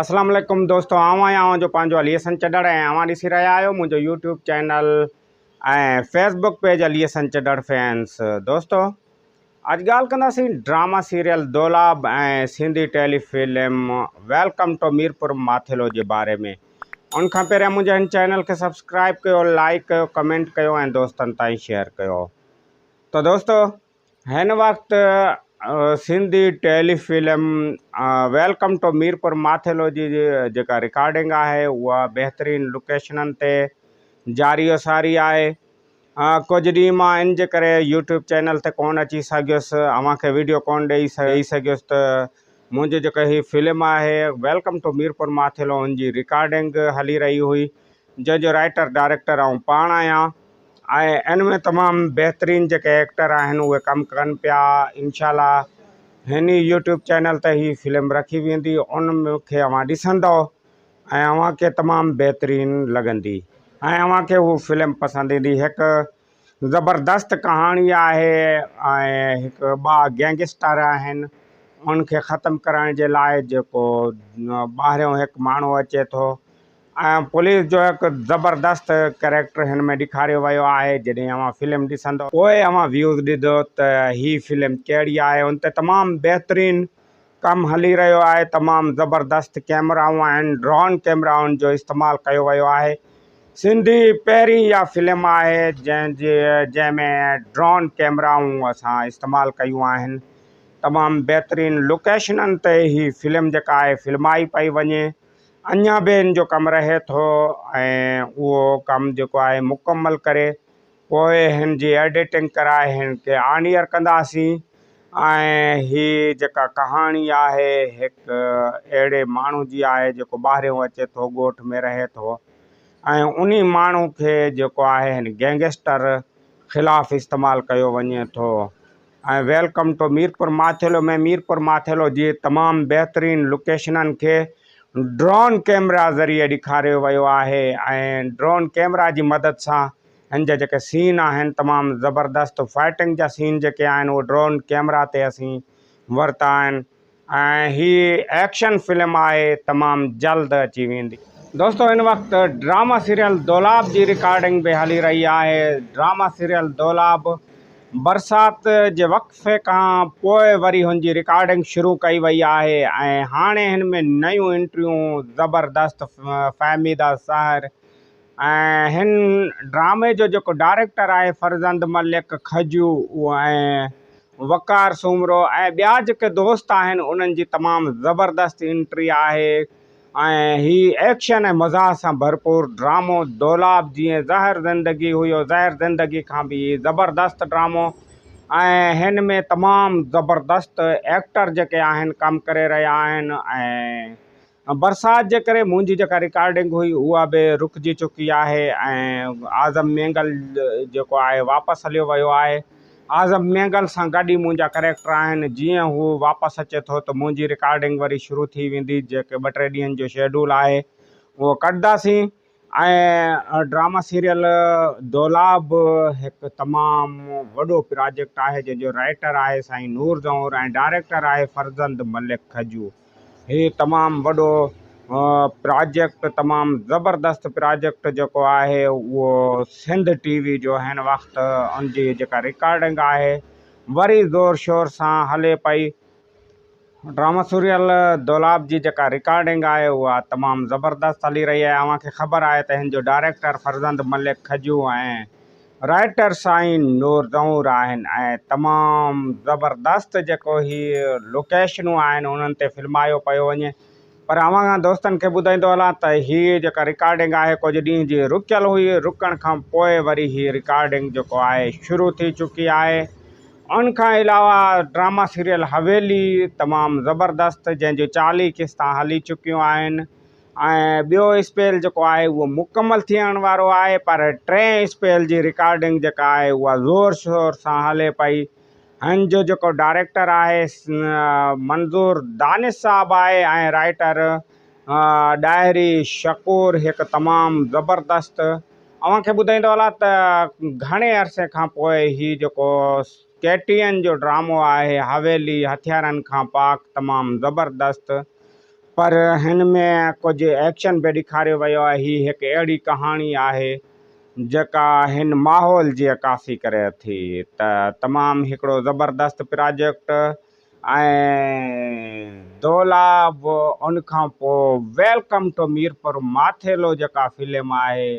اسلام عليڪم دوستو آئون آهيان اوهان جو پنهنجو علي حسن چڏڙ ۽ اوهان ڏسي رهيا آهيو منهنجو YouTube channel ۽ Facebook page Ali Hassan Chhadar fans دوستو اڄ ڳالهه ڪنداسين drama serial Dolab ۽ Sindhi telefilm welcome to Mirpur Mathelo جي باري ۾ ان کان پهريان منهنجي هن چينل کي سبسڪرائب ڪيو لائڪ ڪيو ڪمينٽ ڪيو ۽ دوستن تائين شيئر ڪيو ته دوستو هن وقت Sindhi telefilm welcome to Mirpur Mathelo جي جيڪا رڪارڊنگ آهي اها بهترين لوڪيشنن تي جاري و ساري آهي ڪجهه ڏينهن مان ان جي ڪري يوٽيوب چينل تي ڪونه اچي سگهيس اوهان کي ويڊيو ڪونه ڏئي ڏئي سگهيس ته منهنجي جيڪا هي فلم آهي ويلڪم ٽو ميرپور ماٿيلو ان جي رڪارڊنگ هلي رهي هئي جنهن جو رائيٽر ڊائريڪٽر آئون پاڻ آهيان ۽ ان ۾ تمام بهترين جيڪي ايڪٽر آهن اهي ڪم ڪن پيا انشاء الله هن ئي يوٽيوب چينل تي هي فلم رکي ويندي ان کي اوهان ڏسندو ۽ اوهان کي تمام بهترين لڳندي ۽ اوهان کي هو فلم پسند ايندي هڪ زبردست ڪهاڻي آهي ۽ هڪ ٻا گينگسٽر آهن ان کي ختم ڪرڻ جي لاء جيڪو ٻاهريون هڪ ماڻهو اچي ٿو پوليس جو هڪ زبردست ڪريڪٽر هن ۾ ڏيکاريو ويو آهي جڏهن اوهان فلم ڏسندو پوء اوهان ويوز ڏيدو ته هي فلم ڪهڙي آهي ان تي تمام بهترين ڪم هلي رهيو آهي تمام زبردست ڪيمرائون آهن ڊرون ڪيمرائن جو استعمال ڪيو ويو آهي سنڌي پهرين اها فلم آهي جنهن جي جنهن ۾ ڊرون ڪيمرائون اسان استعمال ڪيون آهن تمام بهترين لوڪيشنن تي هي فلم جيڪا آهي فلمائي پئي وڃي اڃا به ان جو ڪم رهي ٿو ۽ اهو ڪم جيڪو آهي مڪمل ڪري پوء هن جي ايڊيٽنگ ڪرائي هن کي آن ايئر ڪنداسين ۽ هي جيڪا ڪهاڻي آهي هڪ اهڙي ماڻهو جي آهي جيڪو ٻاهريون اچي ٿو ڳوٺ ۾ رهي ٿو ۽ انهي ماڻهو کي جيڪو آهي هن گينگسٽر خلاف استعمال ڪيو وڃي ٿو ۽ ويلڪم ٽو ميرپور ماٿيلو ۾ ميرپور ماٿيلو جي تمام بهترين لوڪيشنن کي ڊرون ڪيمرا ذريعي ڏيکاريو ويو آهي ۽ ڊرون ڪيمرا جي مدد سان هن جا جيڪي سين آهن تمام زبردست فائٽنگ جا سين جيڪي آهن اهي ڊرون ڪيمرا تي اسين ورتا آهن ۽ هي ايڪشن فلم آهي تمام جلد اچي ويندي. دوستو هن وقت ڊراما سيريل دولاب جي رڪارڊنگ به هلي رهي آهي ڊراما سيريل دولاب برسات جي وقفي کان پوء وري هن جي رڪارڊنگ شروع ڪئي وئي آهي ۽ هاڻي هن ۾ نيون انٽريون زبردست فهميده سحر ۽ هن ڊرامي جو جيڪو ڊائريڪٽر آهي فرزند ملڪ کجو اهو ۽ وقار سومرو ۽ ٻيا جيڪي دوست آهن انهن جي تمام زبردست انٽري آهي ۽ هي ايڪشن ۽ مزاح سان ڀرپور ڊرامو دولاب جيئن زهر زندگي هيو زهر زندگي کان به هي زبردست ڊرامو ۽ هن ۾ تمام زبردست ايڪٽر جيڪي آهن ڪم ڪري رهيا آهن ۽ ۽ برسات جي ڪري منهنجي جيڪا رڪارڊنگ هئي اها به رڪجي چڪي آهي ۽ اعظم مينگل جيڪو آهي واپس هليو ويو آهي اعظم مينگل سان گڏ ئي منهنجا ڪريڪٽر آهن جيئن هو واپس اچي ٿو ته منهنجي رڪارڊنگ وري شروع ٿي ويندي جيڪي ٻه ٽي ڏينهن جو شيڊول آهي اهو ڪڍنداسين ۽ ڊراما سيريل دولا به هڪ تمام وڏو پراجيڪٽ آهي جنهن جو رائيٽر آهي سائين نور زئور ۽ ڊائريڪٽر آهي فرزند ملڪ کجو هي تمام وڏو پراجيڪٽ تمام زبردست پراجيڪٽ جيڪو آهي اهو سنڌ ٽي وي جو هن وقت ان جي جيڪا رڪارڊنگ آهي وري زور شور سان هلي پئي ڊرامه سريل دولاب جي جيڪا رڪارڊنگ آهي اها تمام زبردست هلي رهي آهي اوهان کي خبر آهي ته هن جو ڊائريڪٽر فرزند ملڪ کجو ۽ رائيٽر سائين نور زئور آهن ۽ تمام زبردست جيڪو هي لوڪيشنون آهن انهن تي فلمايو پيو وڃي پر اوهان کان دوستن کي ٻڌائيندو هلان ته هي جيڪا رڪارڊنگ آهي ڪجهه ڏينهن جي رڪيل هئي، رڪڻ کان پوء وري هي رڪارڊنگ جيڪو آهي شروع ٿي چڪي آهي. ان کان علاوه ڊراما سيريل حويلي تمام زبردست جنهن جون چاليهه قسطان هلي چڪيون آهن ۽ ٻيو اسپيل جيڪو آهي اهو مڪمل ٿيڻ وارو آهي پر ٽئين اسپيل جي رڪارڊنگ جيڪا آهي اها زور شور سان هلي پئي ھن جو جيڪو ڊائريڪٽر آھي منظور دانش صاحب آھي ۽ رائيٽر ڏاھري شڪور ھڪ تمام زبردست اوھان کي ٻڌائيندو ھلا ته گھڻي عرصي کان پوء ھي جيڪو ڪيٽين جو ڊرامو آھي حويلي ھٿيارن کان پاڪ تمام زبردست پر ھن ۾ ڪجھ ايڪشن به ڏيکاريو ويو آھي ھي ھڪ اھڙي ڪھاڻي آھي جيڪا هن ماحول جي عڪاسي ڪري ٿي ته تمام هڪڙو زبردست پراجيڪٽ ۽ دولا به ان کان پوء ويلڪم ٽو ميرپور ماٿيلو جيڪا فلم آهي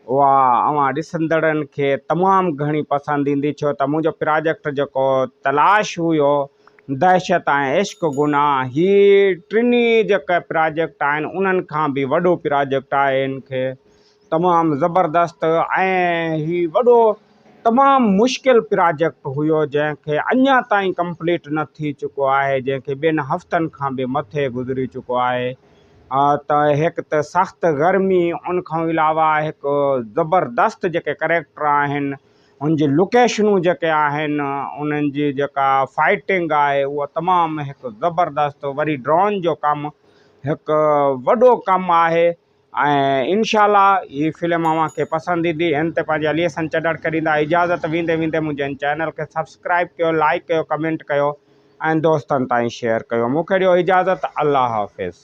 اها اوهان ڏسندڙن کي تمام گهڻي پسند ايندي ڇو ته منهنجو پراجيڪٽ جيڪو تلاش هيو دهشت ۽ عشق گناهه هي ٽنهي جيڪا پراجيڪٽ آهن انهن کان به وڏو پراجيڪٽ آهي هن کي تمام زبردست ۽ هي وڏو تمام مشڪل پراجيڪٽ هيو جنهن کي اڃا تائين ڪمپليٽ نه ٿي چڪو آهي جنهن کي ٻن هفتن کان به مٿي گذري چڪو آهي ته هڪ ته سخت گرمي ان کان علاوه هڪ زبردست جيڪي ڪريڪٽر آهن ان جي لوڪيشنون جيڪي آهن انهن جي جيڪا فائٽنگ آهي اها تمام هڪ زبردست وري ڊرون جو ڪم هڪ وڏو ڪم آهي ۽ انشاء الله ھي فلم اوھان کي پسند ايندي ھن تي پنھنجي اليسن چڏڙ ڪريندا اجازت ويندي ويندي منھنجي ھن چينل کي سبسڪرائب ڪيو لائيڪ ڪيو ڪمينٽ ڪيو ۽ دوستن تائين شيئر ڪيو مونکي ڏيو اجازت الله حافظ.